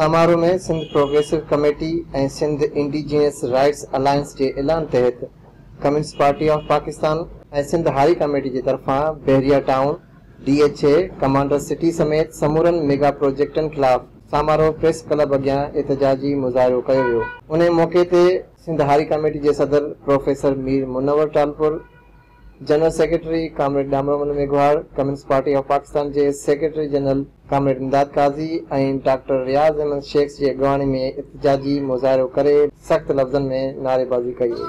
Samaro ۾ Sindh progressive committee ۽ Sindh indigenous rights alliance جي اعلان تحت communist party of Pakistan ۽ Sindh هاء ڪميٽي جي طرفان Bahria town, D H A, commander city سميت سمورن ميگا پروجيڪٽن خلاف سامارو پريس ڪلب اڳيان احتجاجي مظاهرو ڪيو ويو. انهيء موقعي تي سنڌ هاري ڪاميٽي جي صدر professor Mir Munawar Talpur, general secretary comrade Damramal Meghwar, communist party of Pakistan جي secretary general comrade Imdad Qazi ۽ doctor Riaz Ahmed Shaikh جي اڳواڻي ۾ احتجاجي مظاهرو ڪري سخت لفظن ۾ نعريبازي ڪئي وئي.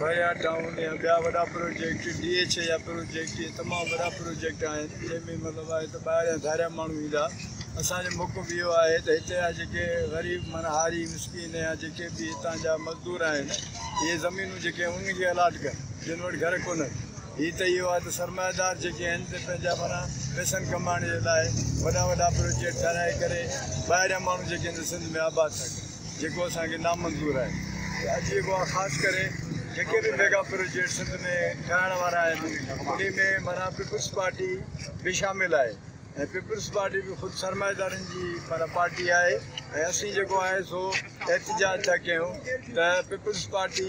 ڀريا ڊائون يا ٻيا وڏا پروجيڪٽ ڊي ايڇ اي جا پروجيڪٽ اهي تمام وڏا پروجيڪٽ آهن جنهن ۾ مطلب آهي ته ٻاهريان ڌاريا ماڻهو ايندا اسان جو موقف اهو آهي ته هتي جا جيڪي غريب معنيٰ هاري مسڪين يا جيڪي به هتان جا مزدور آهن اهي زمينون جيڪي آهن انهن کي الاٽ ڪن جن وٽ گهر ڪونهن هي ته اهو آهي ته سرمائيدار جيڪي آهن ته پنهنجا معنيٰ پيسن ڪمائڻ جي لاء وڏا وڏا پروجيڪٽ ٺهرائي ڪري ٻاهريان ماڻهو جيڪي آهن سنڌ ۾ آباد ٿا ڪن جيڪو اسان کي نامنظور آهي ۽ اڄ جيڪو آهي خاص ڪري جيڪي به ميگا پروجيڪٽ سنڌ ۾ ٺاهڻ وارا آهن انهي ۾ معنيٰ پيپلز پارٽي به شامل آهي ۽ پيپلز پارٽي به خود سرمائيدارن جي معنيٰ پارٽي آهي ۽ اسين جيڪو آهي سو احتجاج ٿا ڪيون ته پيپلز پارٽي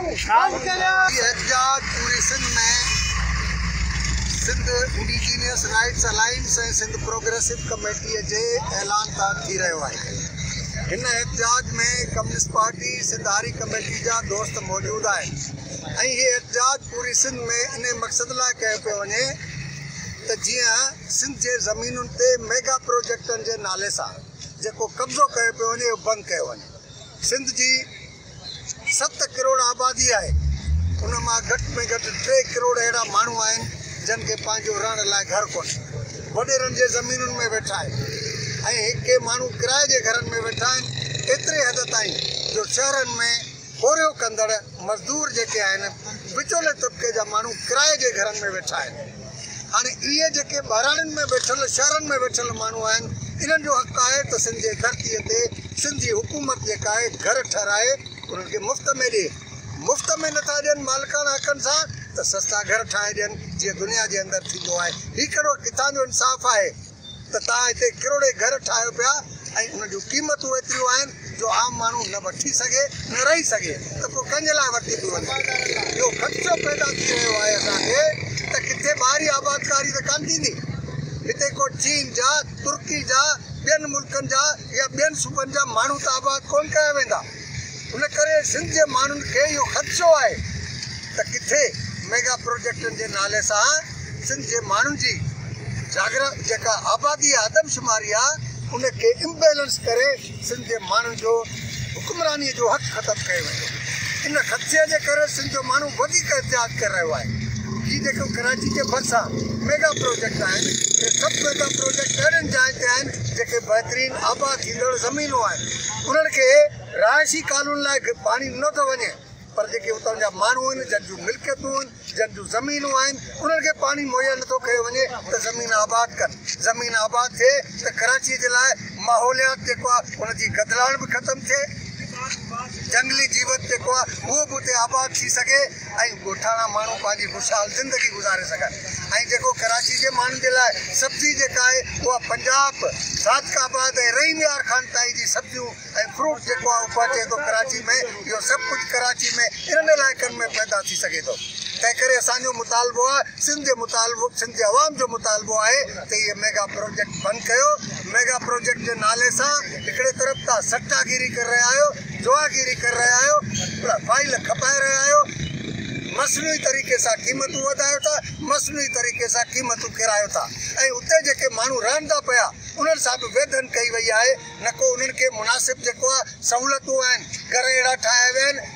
احتجاج پوري Sindh ۾ Sindh indigenous rights alliance ۽ Sindh progressive committee جي اعلان تحت ٿي رهيو آهي. هن احتجاج ۾ ڪميونسٽ پارٽي سنڌ هاري ڪميٽي جا دوست موجود آهن ۽ هي احتجاج پوري سنڌ ۾ انهي مقصد لاء ڪيو پيو وڃي ته جيئن سنڌ جي زمينن تي ميگا پروجيڪٽن جي نالي سان جيڪو قبضو ڪيو پيو وڃي اهو بند ڪيو وڃي. سنڌ جي ست ڪروڙ آبادي آهي ان مان گهٽ ۾ گهٽ ٽي ڪروڙ اهڙا ماڻهو آهن جن کي پنهنجو رهڻ لاء گهر ڪونهي وڏيرن جي زمينن ۾ ويٺا آهن ۽ ڪي ماڻهو ڪرايي جي گهرن ۾ ويٺا آهن ايتري حد تائين جو شهرن ۾ پورهيو ڪندڙ مزدور جيڪي آهن وچولي طبقي جا ماڻهو ڪرايي جي گهرن ۾ ويٺا آهن. هاڻي اهي جيڪي ٻهراڙين ۾ ويٺل شهرن ۾ ويٺل ماڻهو آهن انهن جو حق آهي ته سنڌ جي ڌرتي تي سنڌ جي حڪومت جيڪا آهي گهر ٺهرائي انهن کي مفت ۾ ڏي مفت ۾ نٿا ڏين مالڪاڻا حقن سان ته سستا گهر ٺاهي ڏين جيئن دنيا جي اندر ٿيندو آهي هي ڪهڙو ڪٿان جو انصاف آهي. ته توهان هتي ڪروڙين گهر ٺاهيو پيا ۽ انهن جون قيمتون ايتريون آهن جو عام ماڻهو نه وٺي سگهي نه رهي سگهي ته پوء ڪنهن جي لاء ورتي به وڃي. اهو خدشو پيدا ٿي رهيو آهي اسان کي ته ڪٿي ٻاهري آبادڪاري ته ڪانه ٿيندي. هتي ڪو چين جا، ترڪي جا، ٻين ملڪن جا يا ٻين صوبن جا ماڻهو ته آباد ڪونه ڪيا ويندا. ان ڪري سنڌ جي ماڻهن کي اهو خدشو آهي ته ڪٿي ميگا پروجيڪٽن جي نالي سان سنڌ جي ماڻهن جي جاگرا جيڪا آبادي يا آدمشماري آهي ان کي امبيلنس ڪري سنڌ جي ماڻهن جو حڪمراني جو حق ختم ڪيو ويندو. ان خدشي جي ڪري سنڌ جو ماڻهو وڌيڪ احتياط ڪري رهيو آهي. هي جيڪو ڪراچي جي ڀرسان ميگا پروجيڪٽ آهن اهي سڀ ميگا پروجيڪٽ اهڙين جاين تي آهن جيڪي بهترين آباد ٿيندڙ زمينون آهن. انهن کي رهائشي ڪالونين لاء پاڻي ڏنو ٿو وڃي پر جيڪي اتان جا ماڻهو آهن جن جون ملڪيتون آهن جن جون زمينون آهن انهن کي پاڻي مهيا نٿو ڪيو وڃي ته زمين آباد ڪن زمين آباد ٿئي ته ڪراچي جي لاء ماحوليات جيڪو آهي ان جي گدلاڻ به ختم ٿئي جنگلي جيوت جيڪو آهي اهو به اتي آباد ٿي سگهي. ۽ ڳوٺاڻا ماڻهو پنهنجي خوشحال زندگي گذاري سگهن ۽ جيڪو ڪراچي جي ماڻهن جي لاء سبزي جيڪا آهي اها پنجاب، صادق آباد ۽ رحيم يار خان تائين جي سبزيون ۽ فروٽ جيڪو آهي اهو پهچي ٿو ڪراچي ۾ اهو سڀ ڪجهه ڪراچي ۾ انهن علائقن ۾ پيدا ٿي سگهي ٿو تنهن ڪري اسان جو مطالبو آهي سنڌ جي مطالبو سنڌ جي عوام جو مطالبو آهي ته اهي ميگا پروجيڪٽ بند ڪيو ميگا پروجيڪٽ جي نالي سان هڪڙي طرف تان سٽا گيري ڪري رهيا آهيو، جوا گيري ڪري رهيا آهيو، فائيل کپائي رهيا آهيو، مصنوعي طريقي سان قيمتون وڌايو ٿا، مصنوعي طريقي سان قيمتون ڪيرايو ٿا ۽ اتي جيڪي ماڻهو رهن ٿا پيا انهن سان به ويڌن ڪئي وئي آهي، نه ڪو انهن کي مناسب جيڪو آهي سهولتون آهن، گهر اهڙا ٺاهيا ويا آهن.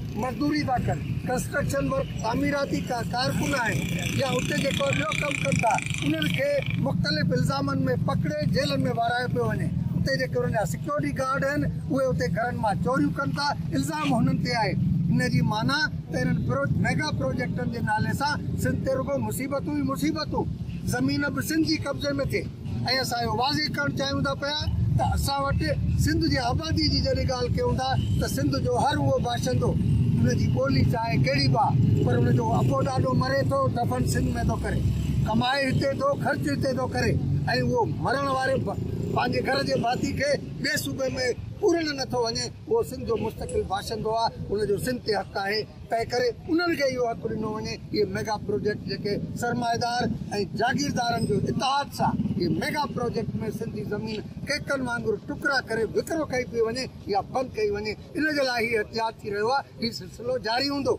مزدوري ٿا ڪن، ڪنسٽرڪشن ورڪ، تعميراتي ڪارڪن آهن يا اتي جيڪو ٻيو ڪم ڪن ٿا انهن کي مختلف الزامن ۾ پڪڙي جيلن ۾ وهرايو پيو وڃي، اتي جيڪي انهن جا سيڪيورٽي گارڊ آهن اهي اتي گهرن مان چوريون ڪن ٿا، الزام هنن تي آهي، ان جي معنيٰ ته انهن ميگا پروجيڪٽن جي نالي سان سنڌ تي رڳو مصيبتون ئي مصيبتون، زمين به سنڌ جي قبضي ۾ ٿئي. ۽ اسان اهو واضح ڪرڻ چاهيون ٿا پيا ته اسان وٽ سنڌ جي آبادي جي جڏهن ڳالهه ڪيون ٿا ته سنڌ جو هر اهو باشندو ان جي ٻولي چاهي ڪهڙي به آهي پر ان جو ابو ڏاڏو مري ٿو دفن سنڌ ۾ ٿو ڪري ڪمائي هتي ٿو خرچ هتي ٿو ڪري ۽ اهو مرڻ واري پنهنجي گهر جي ڀاتي کي ٻئي صوبي ۾ پورڻ نٿو وڃي اهو سنڌ جو مستقل باشندو آهي ان جو سنڌ تي حق آهي. تنهن ڪري انهن کي اهو حق ڏنو وڃي ته اهي ميگا پروجيڪٽ جيڪي سرمائيدار ۽ جاگيردارن جو اتحاد سان اهي ميگا پروجيڪٽ ۾ سنڌي زمين ڪيڪن وانگر ٽڪرا ڪري وڪرو ڪئي پئي وڃي يا بند ڪئي وڃي ان جي لاء هي احتجاج ٿي رهيو آهي هي سلسلو جاري هوندو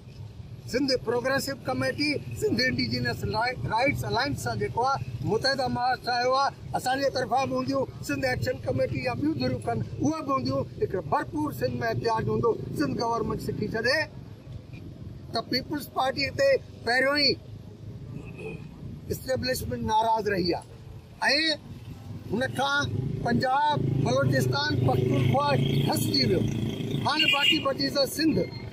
Sindh progressive committee Sindh indigenous rights alliance سان جيڪو آهي متحده مهاراشٽر آيو آهي اسان جي طرفان به هونديون، سنڌ ايڪشن ڪميٽي يا ٻيون ڌريون ڪن، اهي به هونديون، هڪڙو ڀرپور سنڌ ۾ احتجاج هوندو، سنڌ گورنمينٽ سکي ڇڏي ته پيپلز پارٽي تي پهريون ئي اسٽيبلشمينٽ ناراض رهي آهي ۽ هن کان پنجاب، بلوچستان، پختونخوا ٺسجي ويو، هاڻي باقي بچي سنڌ.